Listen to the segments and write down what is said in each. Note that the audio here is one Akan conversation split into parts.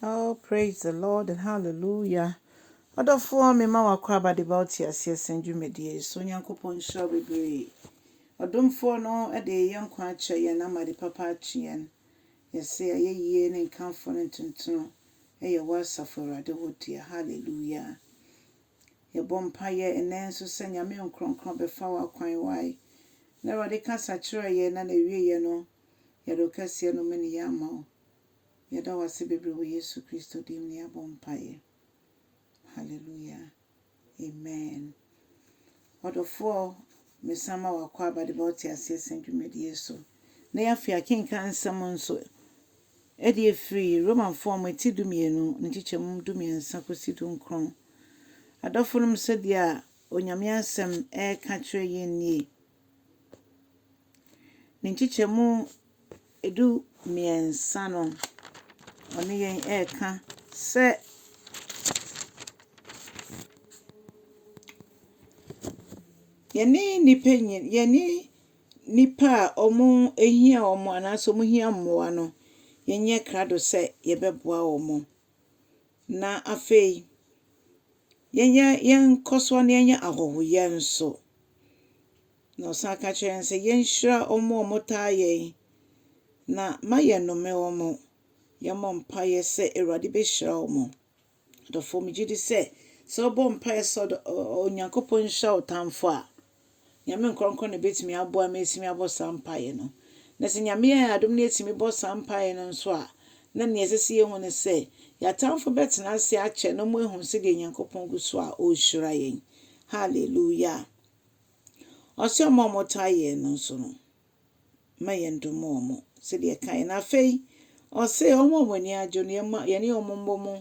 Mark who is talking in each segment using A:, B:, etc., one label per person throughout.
A: Oh praise the Lord and hallelujah. Ɔdɔfoɔ mema w'akwaaba de ba wo teaseɛ sɛn dwumadie yi so Onyankopɔn nhyira wo bebree. Ɔdomfoɔ no de yɛ nkwa akyɛ yɛn na ama de papa akye yɛn. Yɛse ayɛyie ne nkamfo ne ntontono ɛyɛ wo asafo Awurade wo dea. Hallelujah. Yɛbɔ mpaeɛ ɛnɛ nso sɛ Nyame nkrɔnkrɔn bɛfa wo akwan wai na Awurade kasa kyerɛ yɛn na n'awieɛ no yɛde wo kɛseɛ no mene yɛ ama wo. Yɛda wo ase bebree wɔ Yesu Kristo din mu na yɛabɔ mpaeɛ. Hallelujah. Amen. Ɔdɔfoɔ, mesan ma wo akwaaba de ba wo teaseɛ sɛn dwumadie so. Na afei akenkan nsɛm nso ɛde afiri Romanfoɔ nwoma ti dumienu ne nkyekyɛmu dumiɛnsa kɔsi dunkron. Adɔfonom sɛdeɛ a Onyame asɛm ɛreka kyerɛ yɛn nie. Ne nkyekyɛmu du mmiɛnsa no, ɔne yɛn reka sɛ yɛne nnipa nyin yɛne nnipa a wɔhia wɔn anaasɛ wɔhia mmoa no, yɛnyɛ krado sɛ yɛbɛboa wɔn. Na afei, yɛnyɛ yɛnkɔ so na yɛnyɛ ahɔhoyɛ nso. Na ɔsan ka kyerɛ yɛn sɛ yɛnhyira wɔn a wɔtaa yɛn na ma yɛnnome wɔn. Yɛmmɔ mpaeɛ sɛ Awurade bɛhyira wɔn. Adɔfoɔ, megye di sɛ sɛ wobɔ mpaeɛ sɛ Onyankopɔn nhyira wo tamfo a, Nyame nkorɔnkorɔn na ebetumi aboa me asimi abɔ saa mpaeɛ no. Na sɛ Nyame yɛ yɛn adom na yɛatumi bɔ saa mpaeɛ no nso a, na nea ɛsɛ sɛ yɛhu ne sɛ, yɛn atamfo bɛtena ase akyɛ na wɔahu sɛdeɛ Nyankopɔn gu so a ɔrehyira yɛn. Hallelujah! Ɔse ɔma wɔtaa yɛn no nso no. ma yɛndom wɔn sɛdeɛ ɛkaeɛ no. Afei, ɔse wɔn a wɔn ani agye no, yɛma yɛne wɔn mmɔ mu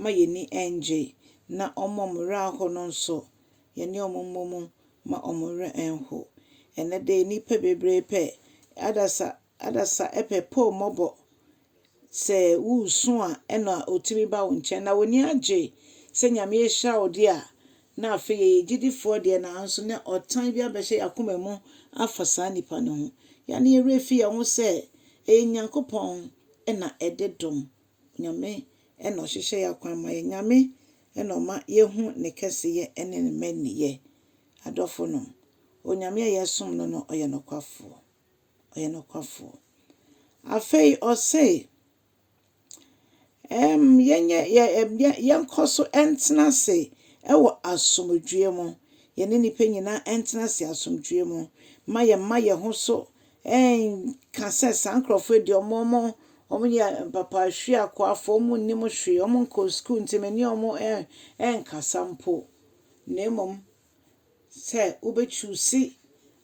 A: ma yɛn ani nnye, na wɔn a wɔn werɛ aho no nso, yɛne wɔn mmɔ mu ma wɔn werɛ nho. Ɛnnɛ de, nnipa bebree pɛ adasa, adasa pɛ pɔw mmɔbɔ Sɛ woresu a nna otumi ba wo nkyɛn. Na w'ani agye sɛ Nyame ahyira wo de a, na afei yɛyɛ gyedifoɔ deɛ nanso na ɔtan bi abɛhyɛ y'akoma mu afa saa nipa no ho. Yɛn a ne yɛn werɛ fi yɛn ho sɛ ɛyɛ Nyankopɔn na ɛde dom. Nyame na ɔhyehyɛ y'akwan ma yɛn. Nyame na ɔma yɛhu ne kɛseyɛ ne ne mmaninyɛ. Adɔfonom, Onyame a yɛsom no no ɔyɛ nokwafoɔ. ɔyɛ nokwafoɔ. Afei ɔse, ɛɛm, yɛnyɛ, yɛ, ɛm, yɛ, yɛnkɔ so ntena ase wɔ asomdwoeɛ mu. Yɛne nnipa nyinaa ntena ase asomdwoeɛ mu. Ma yɛmma yɛn ho so nka sɛ saa nkurɔfoɔ yi deɛ wɔn, wɔn, wɔyɛ mpapahweakoafoɔ, wɔn nnim hwee, wɔn nkɔɔ sukuu nti me ne wɔn ɛɛ, ɛɛnkasa mpo. Na mmom. sɛ wobɛ choose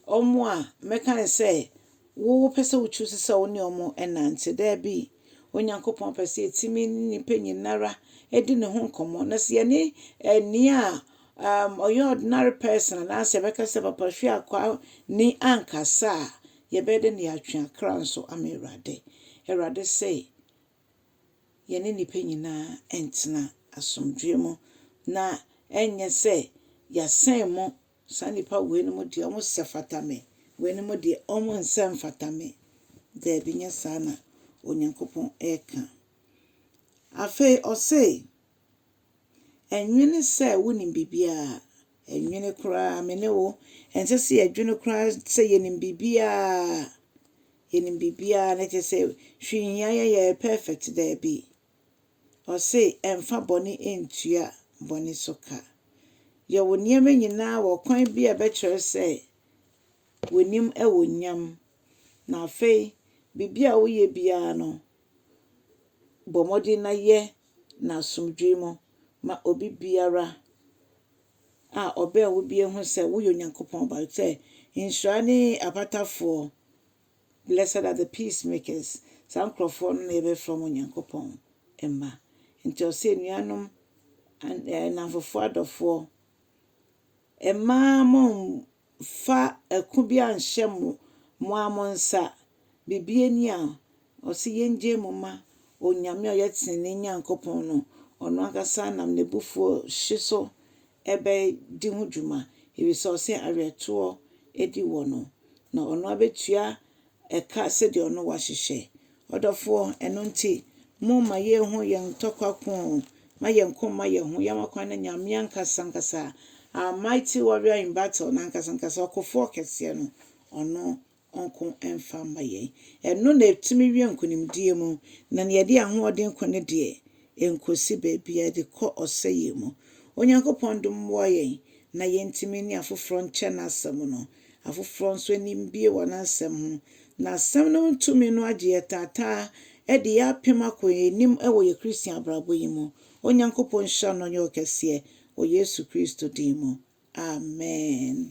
A: wɔn a mɛka no sɛ wopɛ sɛ wo choose sɛ wo ne wɔn ɛnante. Daabi, Onyankopɔn pɛ sɛ yɛtumi ne nnipa nyinara ɛdi ne ho nkɔmmɔ. Na sɛ yɛne ɛnia um, ɔyɛ ordinary person anaasɛ bɛka sɛ papa hwe akwa ni ankasa a, yɛbɛyɛ dɛ ne yɛatwe akra nso ama Awurade. Awurade sɛ, yɛne nnipa nyinaa ntena asomdwoeɛ mu na ɛnyɛ sɛ yɛasɛn mo, saa nnipa wei no mu deɛ wɔsɛ fata me, wei no mu deɛ wɔnsɛ mfata me. Daabi, nyɛ saa na Onyankopɔn reka. Afei ɔse, Ɛnwene sɛ wonim biribiara. Ɛnwene koraa, me ne wo, ɛnsɛ sɛ yɛdwene koraa sɛ yɛnim biribiara. Yɛnim biribiara na ɛkyɛ sɛ hwee nhia yɛn, yɛyɛ perfect. Daabi. Ɔse, ɛmfa bɔne ntua bɔne so ka. Yɛ wo nneɛma nyinaa wɔ kwan bi a ɛbɛkyerɛ sɛ w'anim wɔ nyam. Na afei, biribiara a woyɛ biara no, bɔ mmɔden na yɛ no asomdwoe mu ma obi biara a ɔbɛn wo bia hu sɛ woyɛ Onyankopɔn ba. Sɛ nhyira ne apatafoɔ, blessed are the peace makers, saa nkurɔfoɔ no na yɛbɛfrɛ wɔn Onyankopɔn mma. Nti ɔsɛ anuanom, nnamfofoɔ, adɔfoɔ, mmaa mo fa ɛko bi anhyɛ mo mo ara mo nsa, bibie ni a, ɔse yɛngyae mu ma Onyame a ɔyɛ tenenee Nyankopɔn no, ɔno ankasa nam n'abufuo hye so bɛdi ho dwuma, ɛfiri sɛ ɔse awerɛtoɔ di wɔ no, na ɔno ara bɛtua ɛka sɛdeɛ ɔno wahyehyɛ. Ɔdɔfoɔ, ɛno nti, mo ma yei ho yɛn ntɔkwa koo, ma yɛn ko mma yɛn ho, yɛn akwan na Nyame ankasa ankasa, our mighty warrior in battle, n'ankasa ankasa, ɔkofoɔ kɛseɛ no, ɔno nko mfa mma yɛn. Ɛno na ɛtumi wie nkonimdie mu, na nea ɛde ahoɔden ko no deɛ, yɛn kosi baabiara de kɔ ɔsɛeɛ mu. Onyankopɔn dom mmoa yɛn na yɛntumi ne afoforɔ nkyɛ N'asɛm no. Afoforɔ nso ani mbue wɔ N'asɛm ho. N'Asɛm no ho tumi no agye yɛ taataa de yɛ apem akɔ yɛn anim wɔ yɛn Christian abrabɔ yi mu. Onyankopɔn nhyira no na ɔnyɛ wo kɛseɛ wɔ Yesu Kristo din mu. Amen.